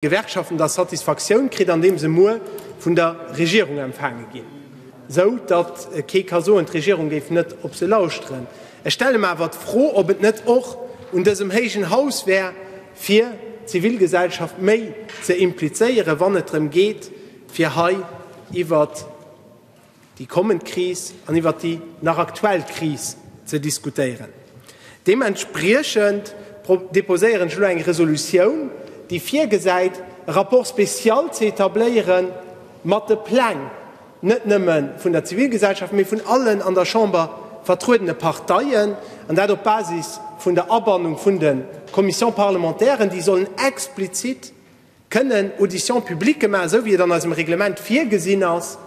Gewerkschaften da Satisfaktioun kritt, andeem se muer vun der Regierung empfaange ginn, esou datt kee ka soen, d'Regierung géif net op se lauschteren. Ech stelle mer awer d'Fro, ob et net och un dësem héijen Haus wär, fir d'Zivilgesellschaft méi ze implizéieren, wann et drëm geet, fir hei iwwert. déi kommend Kris an iwwert déi nach aktuell Kris ze diskutéieren. Deementspriechend deposéieren ech elo eng Resolutioun, déi virgesäit, e Rapport spécial ze établéiere mat de Pläng, net nëmme vun der Zivilgesellschaft, mee vun allen an der Chamber vertruedene Parteien, an dat op Basis vun der Abannung vun de Commissions parlementairen, déi sollen explizit kënnen Auditions publiques maachen, esou wéi et an eisem Reglement virgesinn ass,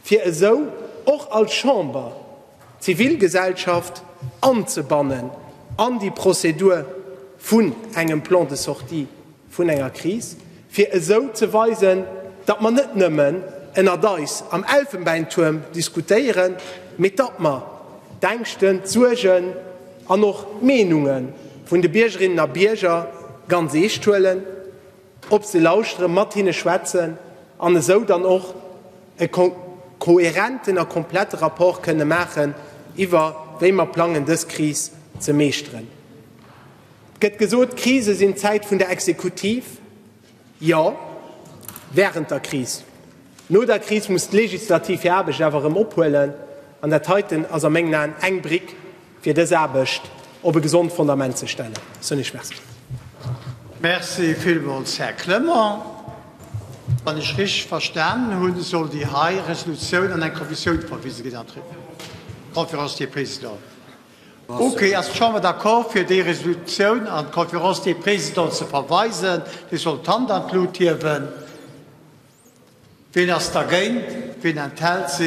fir esou och als Chamber d'Zivilgesellschaft anzebannen an déi Prozedur vun engem Plan de sortie vun enger Kris, fir esou ze weisen, datt mer net nëmmen ënnert eis am Elfenbeintuerm diskutéieren, mee datt mer d'Ängschten, d'Suergen, an och d'Meenunge vun de Biergerinnen a Bierger ganz eescht huelen, op se lauschteren, mat hinne schwätzen an esou dann och e kohärenten a komplette Rapport kënne maachen iwwer wéi mer plangen dës Kris ze meeschteren. Et gëtt gesot, Krise sinn d'Zäit vun der Exekutiv. Jo, während der Kris. No der Kris muss d'Legislativ hir Aarbecht awer erëm ophuelen, an dat heiten ass a mengen Aen eng Brick, fir dës Aarbecht op e gesond Fondament ze stellen. Soen ech Merci. Merci villmools, Här Clement. Wann ech richteg verstanen hunn, soll déi hei Resolutioun an eng Kommissioun verwise ginn an d'Conférence des Présidents. Ok, ass d'Chamber d'accord, fir déi Resolutioun an d'Conférence des Présidents ze verweisen? Dir sollt d'Hand an d'Lut hiewen. Wien ass dergéint? Wien enthält sech?